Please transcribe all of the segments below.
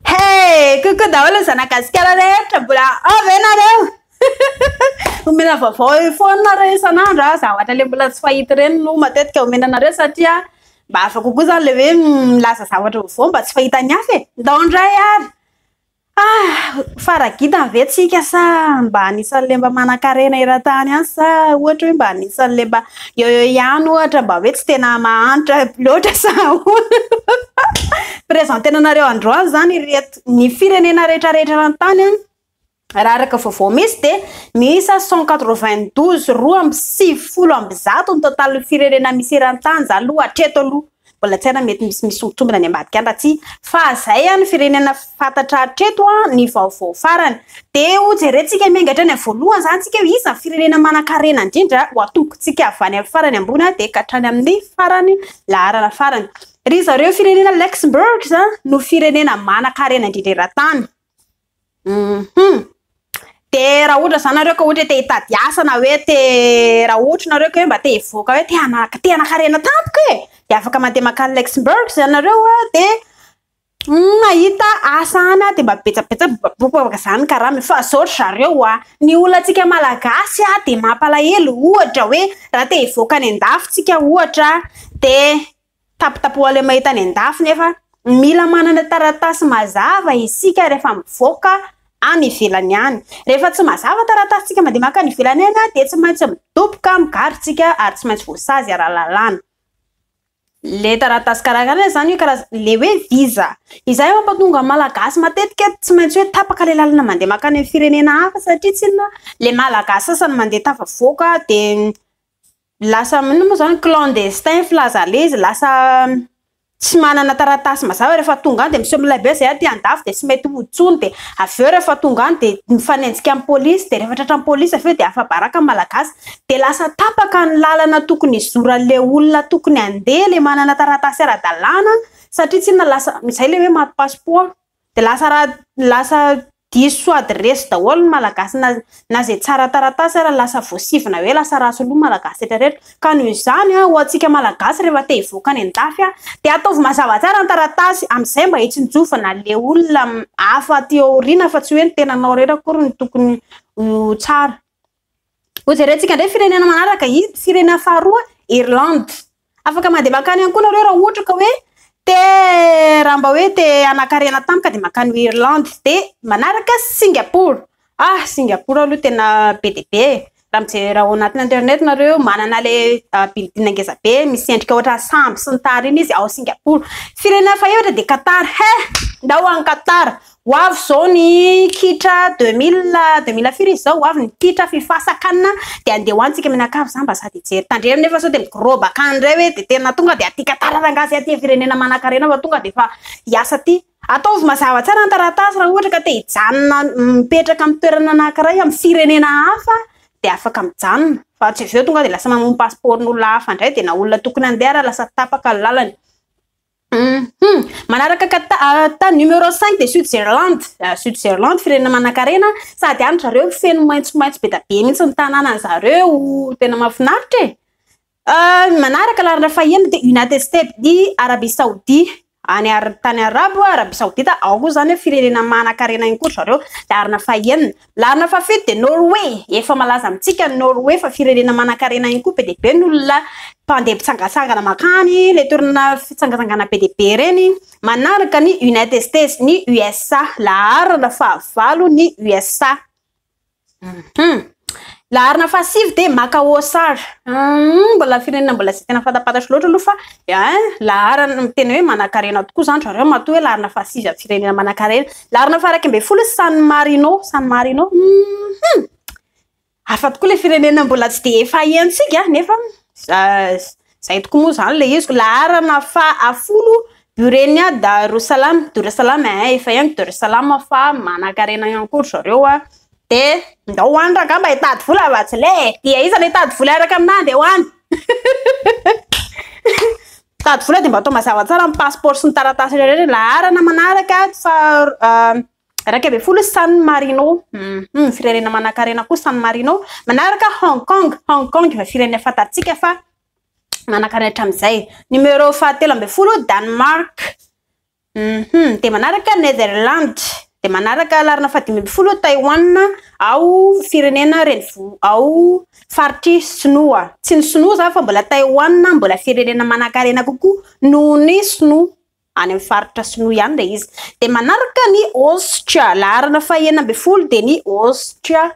Hey! Coucou daholo ny zanagasikara rehetra, mbola ao ve nareo? Omena vaovao eo foana nareo isan'andro a, za ohatra le mbola tsy fahita ireny no matetika omena anareo satria mba hafa kokoa zany le hoe milaza zavatra vaovao mba tsy fahitan'ny hafa e, ndao indray ary. Ah, fara gidany ve tsika sa mba anisan'le mba manankarena eran-tany any sa ohatra hoe mba anisan'le mba Eo eo ihany ohatra mba hoe tsy tena mahantra loatra sa ahoana? Presenter-na anareo androany izany ireto ny firenena rehetra rehetra eran-tany an! Raha araka vaovao misy dia miisa cent quatre vingt douze, roa amby sivifolo amby zato, ny total ny firenena misy eran-tany izany aloha hatreto aloha. Mbola tsy hay raha mety misy misy ho tombina any ambadika any raha tsy fa zay any firenena fantatra hatreto an ny vaovao farany. Dia ho jerentsika miainga hatrany amin'ny voalohany zany tsika hoe iza ny firenena manankarena indrindra ho atombontsika avy any amin'ny farany ambony an dia ka hatrany amin'ny farany laharana farany. Ry zareo firenena Luxembourgs no firenena manankarena indrindra eran-tany. Hum de raha ohatra zany nareo ka ohatra hoe te hitady asa na hoe te raha ohatra nareo ka hoe mba te hivoaka hoe te hanaka te hanakarena tampoka e de afaka mandeha makany Luxembourg zany nareo a de mahita asa any a de mba betsabetsa bobaka zany karama e fa zao ry zareo a ny olona antsika malagasy a de mampalahelo ohatra hoe raha te hivoaka any an-dafy tsika ohatra de Tapitapohaleo mahita any an-dafy nefa mila manana taratasy mazava isika rehefa mivoaka any ivelany any. Rehefa tsy mazava taratasintsika mandeha mankany ivelany any dia tsy maintsy midoboka migarontsika ary tsy maintsy voasazy ara-lalàna. Ilay taratasy karakaraina izany hoe karazana ilay hoe visa. Izay no mampatonga ny Malagasy matetika tsy maintsy hoe tapaka ilay lalana mandeha mankany amin'ny firenena hafa satria tsinona ilay Malagasy sasany mandeha tafavoaka dia Lasa inona moa izany, clandestin, filaza leizy, lasa tsy manana taratasy mazava rehefa tonga any dia miseho milay be izay aty andafy dia tsy mety ho intsony dia avy eo rehefa tonga any dia mifanenjika amin'ny polisy dia rehefa tratra ny polisy avy eo dia afa-baraka ny malagasy dia lasa tapaka ny lalana tokony hizoran'ilay olona tokony handeha ilay manana taratasy ara-dalàna satria tsinona lasa izay ilay hoe maty pasipoa. Dia lasa ra lasa diso soady resy daholo ny malagasy na na zay tsara taratasy ary lasa voasivina hoe lasa ratsy loha malagasy rehetra rehetra ka noho izany a ho antsika malagasy rehefa te hivoaka any andafy a dia ataovy mazava tsara ny taratasy amizay mba hitsinjovana le olona hafa aty aoriana fa tsy hoe ny tenanao rehetra akory no tokony ho tsara Ho jerentsika indray firenena manaraka, izy firenena faharoa, Irlande. Afaka mandeha mankany ihany koa nareo raha ohatra ka hoe te raha mba hoe te hanakarena tampoka dia mankany Irlande. Dia manaraka Singapour. Ah, Singapour aloha tena be dia be e! Raha mijery ao anatin'ny internet nareo, manana ilay building ngeza be misy endrika ohatra sambo sy ny tariny izy ao Singapour. Firenena fahefatra dia Qatar. He! ndao any Qatar. Ho avy izao ny kitra deux mille deux mille firy izy izao? Ho avy ny kitra fifasan can dia andeha ho any tsika mianakavy za mba sady hijery tandremo nefa sao dia migroba can indray hoe dia tena tonga dia aty Qatar rangahy sy aty firenena manankarena fa tonga dia efa hiasa aty. Ataovy mazava tsara ny taratasy raha ohatra ka te hijanona mipetraka amin'ny toerana anankiray amin'ny firenena hafa dia afaka mijanona fa tsy avy eo tonga dia lasa mamono pasipaoron'olona hafa indray dia na olona tokony handeha ary lasa tapaka ny lalany. Hum manaraka kata ta numéro 5 de sud zerland ah, sud zerland firenena manakarena sady any zareo feno maitso maitso be da be mihitsy ny tananany zareo tena mahafinaritra e ah, manaraka larina faheno de united states di arabie saoudi any ar tany arabo arabie saodita ao koa zany hoe firenena manakarena ihany koa zareo larina fahenina Laharana fahafito dia Norway. Efa malaza amintsika ny Norway fa firenena manankarena ihany koa, be dia be ny olona mpandeha mpitsangatsangana mankany, ilay toerana fitsangatsangana be dia be ireny. Manaraka ny United States ny USA, laharana fahavalo ny USA. Laharana fahasivy dia Makaosary, mbola firenena mbola tsy dia tena fantampantatra loatra aloha fa Hein, laharana miteny hoe manakarena tokoa zany ry zareo matoa hoe larina fahasivy am firenena manakarena. Larina faha iraika ambin'ny folo i San Marino, San Marino, hum! Hafa tokoa le firenena mbola tsy dia efa hentsika nefa zay tokoa moa zany le izy. Laharana faha folo Burenia Darussalam, Darussalam hein, efa henoko Darussalam fa manakarena ihany koa ry zareo a. Dia ndao ho any rangah mba hitady vola vacile e! Dia iza no hitady vola hiaraka aminah ndeha ho any? Mpitady vola dia mba atao mazava tsara ny passeport sy ny taratasy rehetra rehetra, laharana manaraka faha iraika ambin'ny folo San Marino, hum firenena manankarena koa San Marino, manaraka Hong Kong, Hong Kong efa firenena fantatsika fa manankarena hatramin'izay, numéro fahatelo ambin'ny folo Danemark, Hum dia manaraka Netherlands, dia manaraka laharana fahadimy ambin'ny folo Taiwan ao firenena renivo ao faritry sinoa. Tsy ny sinoa izany fa mbola Taiwan mbola firenena manankarena kokoa noho ny sinoa, any amin'ny faritra sinoa ihany ilay izy. Dia manaraka ny Aostria, laharana fahenina ambin'ny folo dia ny Aostria.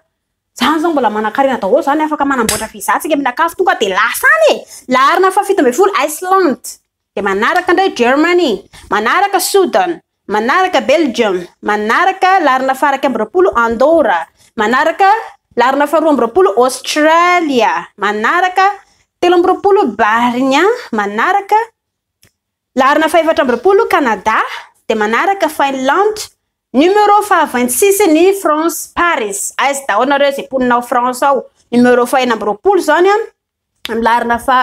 Izany izao mbola manankarena daholo izany, afaka manamboatra visa antsika mila kafo tonga dia lasa any e! Laharana fahafito ambin'ny folo Iceland. Dia manaraka indray Germany, manaraka Sudan, manaraka Belgium, manaraka laharana faha iraika amby roapolo Andorra, manaraka laharana faharoa amby roapolo Australia, manaraka telo amby roapolo Barnia, manaraka laharana fahefatra amby roapolo Canada, dia manaraka Finland, Numéro faha vingt six ny France Paris, aiza daholo nareo izay mponina ao France ao, numéro faha enina amby roapolo izany an, milarina fa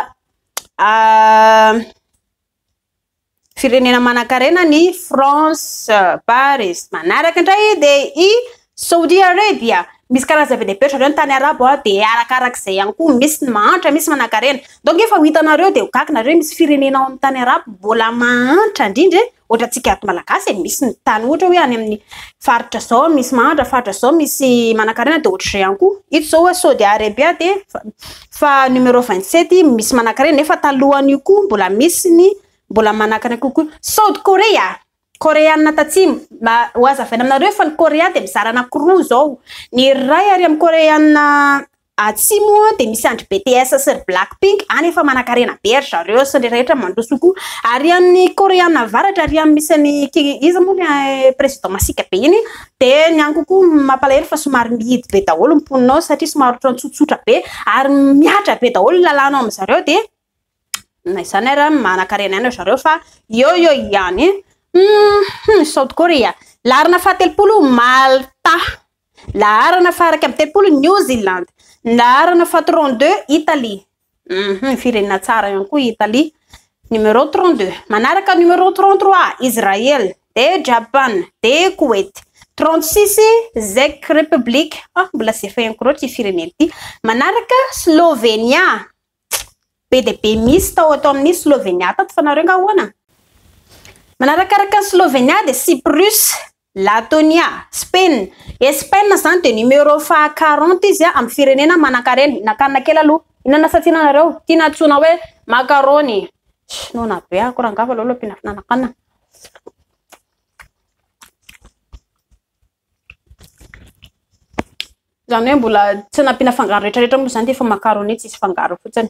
firenena manankarena ny France, Paris. Manaraka indray dia i Saudi Arabia. Misy karaza be dia be ohatrareo ny tany arabo a dia arakarak'izay ihany koa misy ny mahantra misy manankarena. Donc efa ho hitanareo dia ho gaga nareo misy firenena ao amin'ny tany arabo mbola mahantra indrindra e! Ohatra antsika ato Malagasy e, misy ny tany ohatra hoe any amin'ny faritra zao misy mahantra, faritra zao misy manankarena dia ohatr'izay ihany koa. Ito zao hoe Saudi Arabia dia fa numéro 27 misy manankarena nefa talohan'io koa mbola misy ny mbola manankarena kokoa. South Korea, Koreana tatsimo, mba ho hazavaina aminareo fa ny Korea dia mizara anakiroa zao, ny iray ary amin'ny Koreana Atsy moa dia misy an-dry BTS sy ry Black Pink any efa manankarena be ry zareo sy ny rehetra mandroso koa ary any Koreana avaratra ary any misy an'i Ki iza moa le président masiaka be iny dia ny any kokoa mampalahelo fa somary mihidy be daholo ny mponina ao satria somary ohatran'ny tsotsotra be ary mihatra be daholo ny lalàna ao amin-dry zareo dia na izany ary manankarena ihany ry zareo fa eo eo ihany South Korea larina fahatelopolo Malta Laharana faha iraika amby telopolo, New Zealand. Ny laharana faha trente deux, Italie. Uhum, firenena tsara ihany koa i Italie. Numéro trente deux. Manaraka numéro trente trois, Israël. Dia Japan. Dia Koweït. Trente six, Czech Republic. Ah, mbola tsy efa henoko loatra ity firenena ity. Manaraka Slovenia. Be dia be misy tao ato amin'ny Slovenia tato fa nareo nga ahoana? Manarakaraka ny Slovenia dia Cyprus. Latonia, Spain, Espaina zany dia numéro faha quarante izy amin'ny firenena manankarena, nakanina kely aloha. Inona no asatsiana anareo? Tiana antsoina hoe macaroni. Noana be ako rangah fa aleo aloha ampiana fnanakanina. Zany hoe mbola tsy nampiana fangaro retraretra moa zany dia efa macaroni tsisy fangaro fotsiny.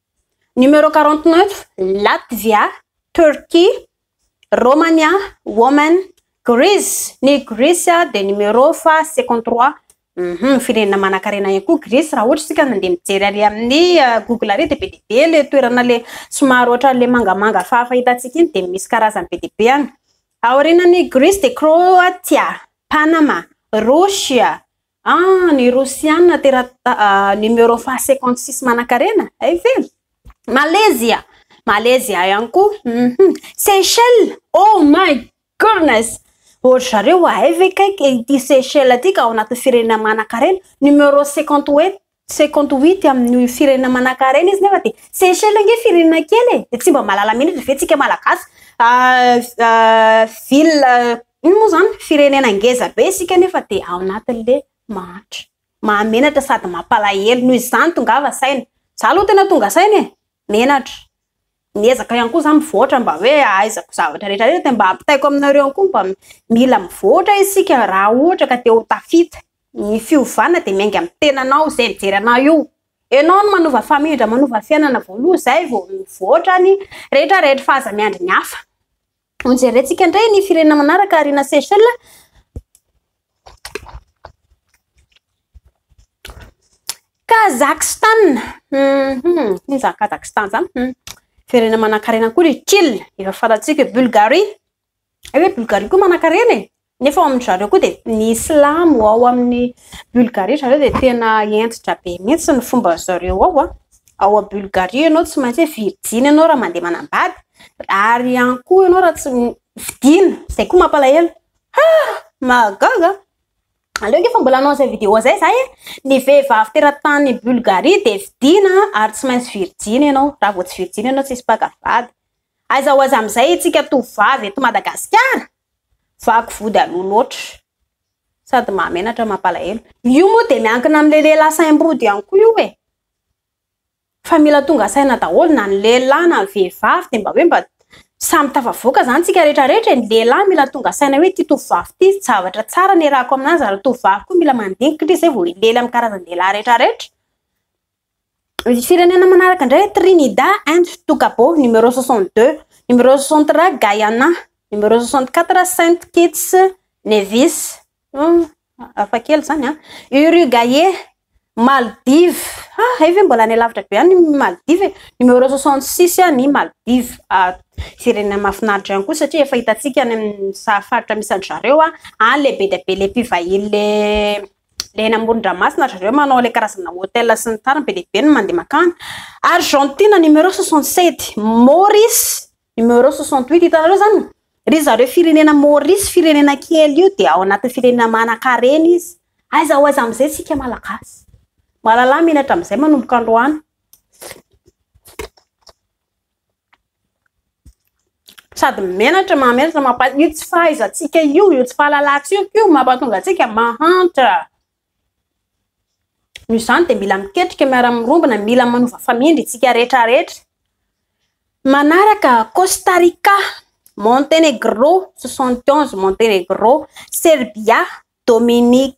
Numéro quarante neuf, Latvia, Turquie, Romania, Woman, Greece, ny Gresy dia numéro faha cinquante trois, firenena manankarena ihany koa Gresy raha ohatra isika mandeha mijery ary amin'ny google ary dia be dia be ilay toerana ilay somary ohatran'ilay mangamanga fahafahitantsika iny dia misy karazany be dia be any. Aorianan'i Gresy dia Kroatia, Panama, Rosia, Ah ny rosiana tera numero faha cinquante six manakarena ay ve? Malaysia Malaysia ihany koa uhum Seychelles oh my goodness ohatry zareo ay ve kaiky ity Seychelles ity ka ao anatin'ny firenena manakarena numero cinquante huit Tsy compte huit amin'ny firenena manankarena izy nefa dia Seychelles ange firenena kely e! dia tsy mba mahalala menatra ve tsika malagasy ville ino moa zany firenena ngeza be isika nefa dia ao anatin'le mahantra mahamenatra sady mampalahelo noho izany tongava saina za aloha tena tonga saina e! menatra Miezaka ihany koa za mivoatra mba hoe ahaizako zavatra rehetra rehetra de mba ampitaiko aminareo ihany koa mba mila mivoatra isika raha ohatra ka te ho tafita. Ny fiovana de miainga amin'ny tenanao zay mijery anao io. Enao no manova famindra manova fiainana voaloha zay vao mivoatra ny rehetra rehetra fa aza miandry ny hafa. Ho jerentsika indray ny firenena manaraka Arina Seychelles. Kazakhstan. Mm -hmm. Iny zany Kazakhstan zany. Mm. Firenena manankarena koa ry Kil. Efa falatsika Bulgarie. Ay hoe Bulgarie koa manankarena e. Nefa ao amin-dry zareo koa dia ny silamo ao amin'ny Bulgarie ry zareo dia tena hentitra be mihitsy ny fomban-dry zareo ao. Ao a Bulgarie ianao tsy maintsy hoe virjiny ianao raha mandeha manambady ary ihany koa ianao raha tsy fidina, izay koa mampalahelo. Ha! Mahagaga! Aleo ange fa mbola hanao izay vidéo izay za e! Ny vehivavy teratany Bulgarie dia fidina ary tsy maintsy virjiny ianao, raha vao tsy virjiny ianao tsy hisy mpaka vady. Aiza ho aiza amin'izay isika tovovavy eto Madagasikara? Vaky vody aloha loatra. Sady mahamenatra mampalahelo. Io moa dia miankina amin'ny lehilahy saim-bodo ihany koa io e! Fa mila tonga saina daholo na ny lehilahy na ny vehivavy dia mba hoe mba samy tafavoaka izany tsika rehetra rehetra e! Ny lehilahy mila tonga saina hoe ity tovovavy ity zavatra tsara niarahako aminazy ary ny tovovavy koa mila mandinika indrisy izay vao hilely amin'ny karazan-dehilahy rehetra rehetra. Ny firenena manaraka indray Trinidad and Togago, numéro 62, numéro 63 Guyana, numéro 64 Saint Kitts Nevis, hafa kely izany an, Uruguay, Maldives, ha hay ve mbola any alavitra be any ny Maldives e, numéro 66 ny Maldives, firenena mahafinaritra ihany koa satria efa hitantsika any amin'ny saha faritra misy an-dry zareo any lehibe dia be ilay mpivahiny ilay le eny amoron-dranomasina ry zareo manao ilay karazana hôtel sy ny tariny be dia be no mandeha makany Argentine numéro 67 Maurice numéro 68 hitanareo zany ry zareo firenena Maurice firenena kely io dia ao anatin'ny firenena manan-karena izy aiza ho aiza amin'izay isika malagasy malalà menatra amin'izay manomboka androany Sady menatra, mahamenatra, mampa- io tsy fahaizantsika io, io tsy fahalalantsika io no mampatonga antsika mahantra. Noho izany dia mila miketrika miara-mirombona, mila manova famindra isika rehetra rehetra. Manaraka, Costa Rica, Montenegro, soixante onze, Montenegro, Serbia, Dominica,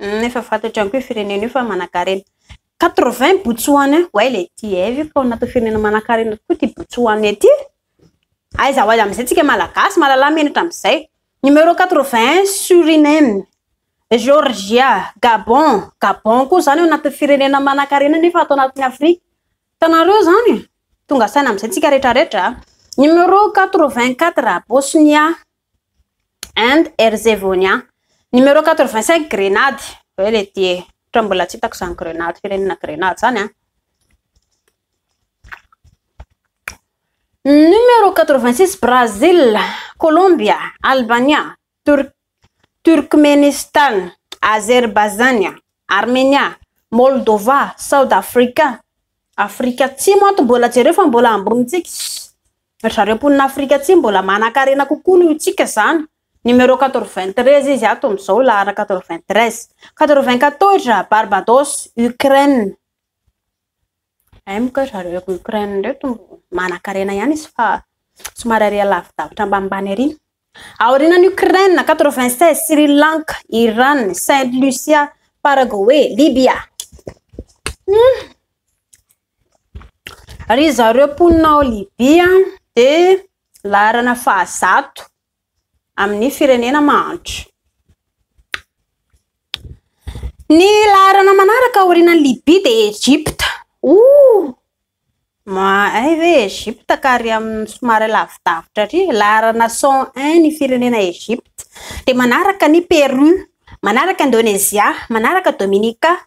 Efa fantatra ihany koa io firenena io fa manankarena. 80 Botsoana, way le ty e, aiza io fa ao anatin'ny firenena manankarena tokoa ty Botsoana ty? Aiza ho aiza amin'izay tsika malagasy malalà menatra amin'izay. Numéro 81 Suriname, Georgia, Gabon, Gabon koa izany ao anatin'ny firenena manankarena nefa ato anatin'ny Afrika. Hitanareo izany e? Tonga saina amin'izay tsika rehetra rehetra. Numéro 84 Bosnia, and Herzevonia, numéro quatre vingt cinq grenady ve le ty e? otrany mbola tsy hitako zany grenady firenena grenady zany an, numéro quatre vingt six Brazil, Kolombia, Albania, Tur Turkmenistan, Azerbaizania, Armenia, Moldova, South Africa, Afrika atsimo ato mbola jereo fa mbola ambony tsika, Ry zareo mponina Afrika Atsimo mbola manankarena kokoa noho itsika izany. Numéro quatre-vingt-treize izy ato amin'izao, laharana quatre-vingt-treize. Quatre-vingt-quatorze, Barbados, Ukraine. Hay moa kay ry zareo eto Ukraine ireto manankarena ihany izy fa somary ary lavidavitra ambanimbany ary. Aorianan'i Ukraine, quatre-vingt-seize, Sri Lanka, Iran, Saint Lucia, Paraguay, Libya. Hmm. Ry zareo mponina ao Libya dia laharana fahazato amin'ny firenena mahantra. Ny laharana manaraka aorianan'i Libya dia Egypta. Oh! Mahay ve Egypta ka ary amin'ny somary lavidavitra ary? Laharana 101 ny firenena Egypta. Dia manaraka ny Pérou, manaraka Indonezia, manaraka Dominica,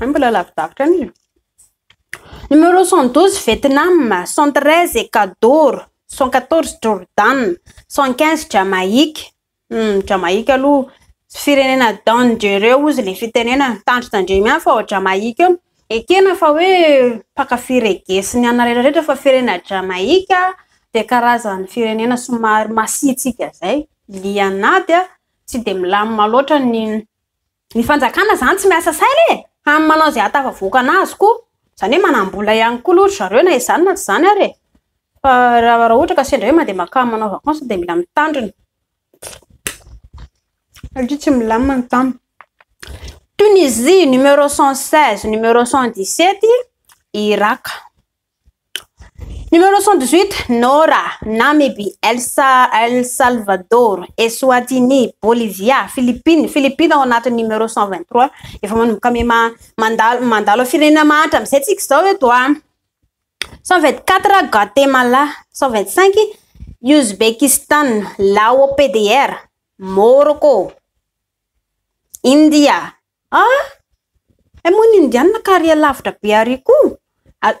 Ay mbola lavidavitra ny e. Numéro 112 Vietnam, 113 Ecuador, 114 Jordan, 115 Jamaïque. Hum, Jamaïque aloha tsy firenena dangereux hoy izy ilay fitenenana. Tandritsy tandremo ihany fa ao Jamaïque ao. Ekena fa hoe mpankafy reggae sy ny anona rehetra rehetra fa firenena Jamaïque dia karazan'ny firenena somary masiantsika izay, lian'ady, tsy dia milamina loatra ny Ny fanjakana zany tsy miasa saina e! Hany manao izay ahatafavoakana azy koa. Izany hoe manam-bola ihany koa aloha ry zareo na izany na tsy izany ary e! Fa raha raha ohatra ka sendra hoe mandeha makany manao vacances dia mila mitandrina. Satria tsy milamina ny tany. Tunisie, numéro 116, numéro 117, Irak. Numéro 118, Nora, Namibie, El, Sa, El Salvador, Eswatini, Bolivia, Philippines, Philippines ao anatin'ny numéro 123. Efa manomboka miha ma- mandalo mandalo firenena mahantra amin'izay tsika izao eto a. 124, Guatemala, 125, Uzbekistan, Lao, PDR, Môrôkô, India, Ah! Hay moa ny Indiana kary alavitra be ary koa!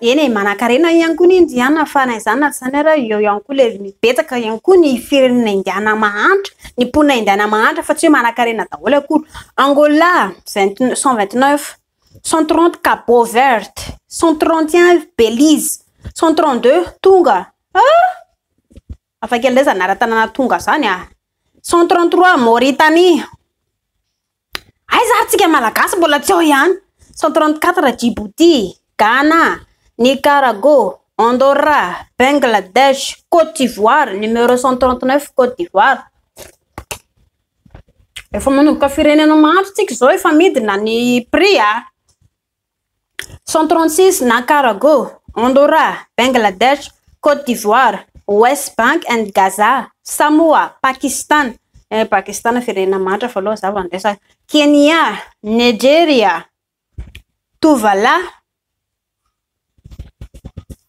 Eny e, manankarena ihany koa ny Indiana fa na izany na tsy izany ary eo ihany koa ilay betsaka ihany koa ny firenena Indiana mahantra, ny mponina Indiana mahantra fa tsy hoe manankarena daholo akory. Angola, vingt n- cent vingt neuf, cent trente Cabo Verde, cent trente et un Belize, cent trente deux Tonga, ah! Hafakely indray izany anaran-tanàna Tonga izany ah! Cent trente trois Mauritanie. Aiza ary tsika malagasy mbola tsy ao ihany? 134 Djibouti, Ghana, Nicarago, Andorra, Bengladesh, Cote d'Ivoire, numéro 139 Cote d'Ivoire. Efa manomboka firenena maro tsika izao efa midina ny prix a. Centronsis Nancarago, Andorra, Bangladesh, Côte d'Ivoire, West Bank and Gaza, Samoa, Pakistana, eh Pakistana firenena mahantra fa loha za vao niresaka, Kenya, Nigeria, Tuvalu,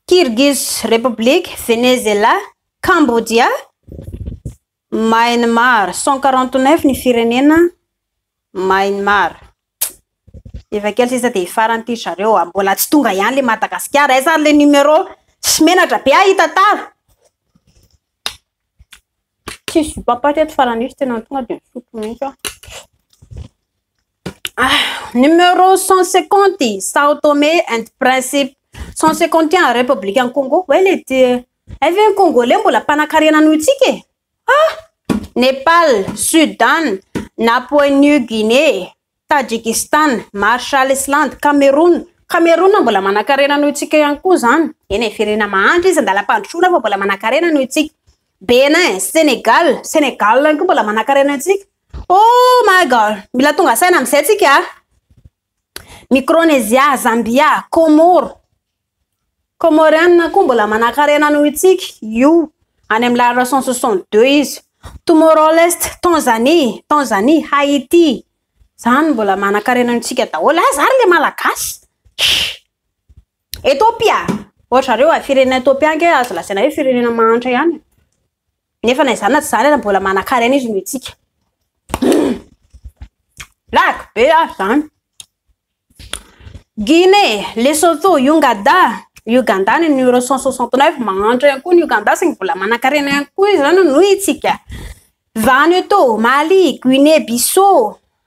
Kyrgyz Republic, Venezela, Cambodia, Myanmar, cent quarante neuf ny firenena Myanmar. Efa kely sisa dia hifarana ity ry zareo a! Mbola tsy tonga ihany ilay Madagasikara. Aiza ary ilay numéro? Tsy menatra be aho hita tara. Tsisy zokam-paty eto Faran'isa tena tonga dia nisotro mihitsy aho. Ah, numéro 150, Sao Tome and Principe. 151, République en Congo. Hoe le ty. Hay ve ny Congolais mbola mpanakarena noho itsika e? Ah! Népal, Sudan, Napoe New Guinée, Tajikistan, Marshall Island, Cameroun. Cameroun mbola manakarena noho itsika ihany koa zany. Eny e, firenena mahantra izy, andalam-pandrosoana fa mbola manakarena noho itsika. Bénin, Sénégal, Sénégal ihany koa mbola manankarena antsika. Oh my god, mila tonga saina amin'izay tsika. Ah. Micronesia, Zambia, Comores. Comorianina koa mbola manankarena noho itsika. Io any amin'ny lalana 162 izy. Tomorrow Leste, Tanzanie, Tanzanie, Haïti. Zany mbola manankarena antsika daholo. Ah, zary le malagasy. Ethiopia, ohatra zareo a, firenena Ethiopia ange azo lazaina hoe firenena mahantra ihany e, nefa na izany na tsy izany ary mbola manankarena izy noho itsika. Blague be ary zany. Guinée, Lesotho, Ungada, Uganda ny numéro 169 mahantra ihany koa ny Uganda saingy mbola manankarena ihany koa izy zany noho itsika. Vanuatu, Mali, Guinée Bissau,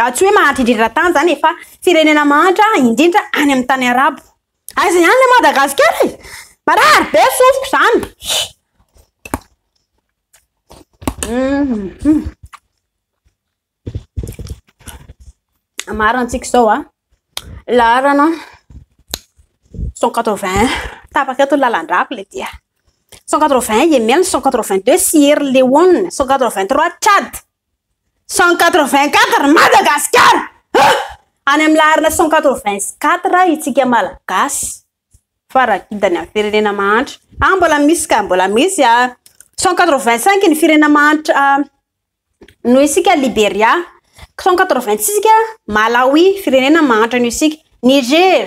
Tsy hoe mahantra indrindra tany izany e, fa firenena mahantra indrindra any amin'ny tany arabo. Aiza ihany ilay Madagasikara e? Marary be ny sofiko izany. Mhm. Hamarantsika izao a. Laharana 180 tapaka eto ny lalan-drako ilay dia. 180 Yemen, 182 Sierra Leone, 183 Tchad. Cent quatre vingt quatre Madagasikara ah! Any amin'ny laharana cent quatre vingt quatre itsika Malagasy fa raha kintana amin'ny firenena mahantra ah mbola misy ka mbola misy ah cent quatre vingt cinq ny firenena mahantra ah, noho isika Liberia cent quatre vingt six Malawi firenena mahantra noho isika Niger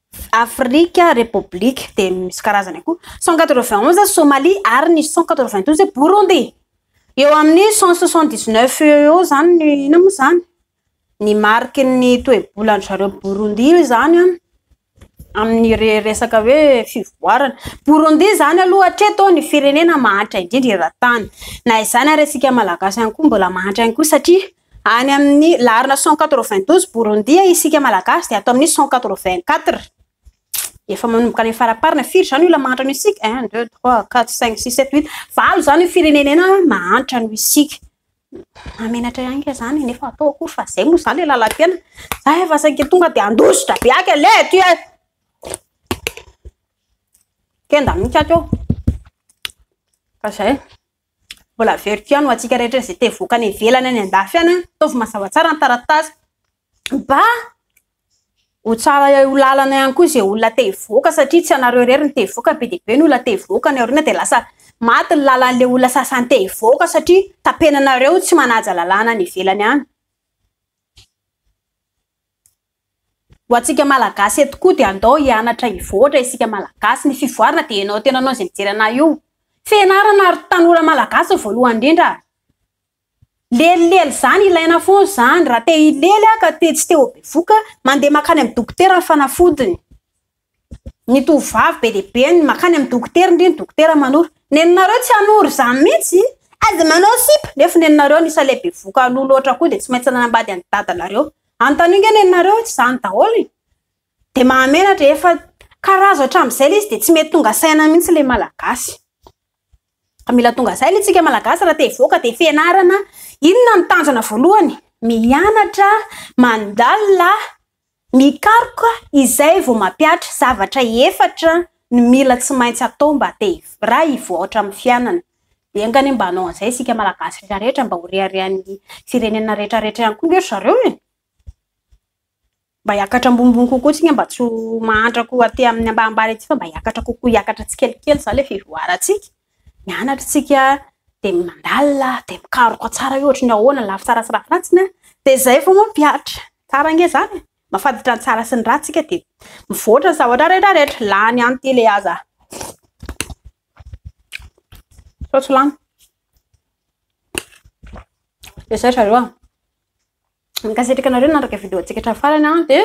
Afrika, Repoblika, dia misy karazany akoho, cent quatre-vingt onze Somalia ary ny cent quatre-vingt douze Burundi. Eo amin'ny cent soixante dix neuf eo eo izany ny inona moa izany? Ny mariky ny toe-bolan-dry zareo Burundi izany an, amin'ny resaka hoe fivoarana. Burundi izany aloha hatreto ny firenena mahantra indrindra eran-tany. Na izany ary isika Malagasy ihany koa mbola mahantra ihany koa satria Any amin'ny laharana cent quatre-vingt-douze Borondia isika Malagasy dia ato amin'ny cent quatre-vingt-quatre. Efa manomboka any amin'ny faraparana. Firy izany io olona mahantra noho isika? Un, deux, trois, quatre, cinq, six, sept, huit. Valo izany io firenenena mahantra noho isika. Mahamenatra ihany kay izany nefa atao akory fa izay moa izany ilay lalam-piainana. Za efa saika tonga dia handositra be aky aleha aty e. Kenda mihitsy ato eo. Fa izay. Mbola averiko ihany ho antsika rehetra izay te hivoaka any ivelany any andafy any, ataovy mazava tsara ny taratasy mba ho tsara ho lalana ihany koa izay olona te hivoaka satria tsy ianareo irery ny te hivoaka, be dia be ny olona te hivoaka any aoriana dia lasa maty ny lalan'ilay olona sasany te hivoaka satria tapenanareo tsy manaja lalàna any ivelany any. Ho antsika malagasy eto koa dia andao hianatra hivoatra isika malagasy, ny fivoarana dia ianao tena anao izay mijery anah io, fianarana ary tanora malagasy no voalohany indrindra, lelilely zany ilaina foana zany, raha te hilely aho ka te tsy te ho bevoka, mandeha makany amin'ny dokotera ny fanafodiny. Ny tovovavy be dia be no makany amin'ny dokotera ndry ny dokotera manoro. Nenareo tsy hanoro izany mihitsy aza manao sipa nefa nenareo anisany ilay bevoka aloha loatra koa dia tsy maintsy nanambady an'i dadanareo. Anontanio nge nenareo tsy izany daholo e! Dia mahamenatra e! Efa karazo hatramin'izay ilay izy dia tsy mety tonga saina mihitsy ilay malagasy. Ka mila tonga saina isika malagasy raha te hivoaka dia fianarana. Inona no tanjona voalohany? Mianatra, mandalina, Mikaroka izay vao mampihatra zavatra efatra ny mila tsy maintsy atao mba te raha hivoatra amin'ny fianana. Dia enga anie mba hanao an'izay isika Malagasy rehetra rehetra mba ho reharehan'ny firenena rehetra rehetra ihany koa nge ry zareo e! Mba hiakatra ambonimbony kokoa tsika mba tsy ho mahantra koa aty amin'ny ambanimbany aty fa mba hiakatra kokoa hiakatra tsikelikely izany ilay fivoarantsika. mianatra tsika de mandalina de mikaroka tsara io ohatry ny ahoana lafy tsara sy lafy ratsiny a de zay vao mampihatra tsara ange zany mafantatra ny tsara sy ny ratsy tsika de mivoatra ny zavatra rehetra rehetra lany any ty le aza sao tsy lany de zay zareo a Mankasitraka anareo nanaraka vidéo antsika hatramin'ny farany an, dia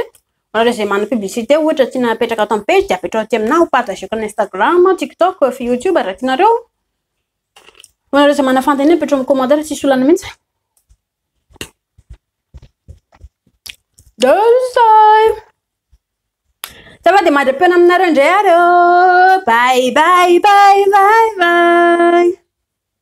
anareo izay manana publicité ohatra tiana apetraka ato amin'ny page dia apetraho aty aminah, ho partageko amin'ny Instagram, TikTok, YouTube raha tianareo. Ho anareo izay manana fanontaniana apetraho amin'ny commentaire tsisy olana mihitsy. Deuxay. Ça va dia madra-peo aminareo indray ary ô. Bye bye bye bye bye.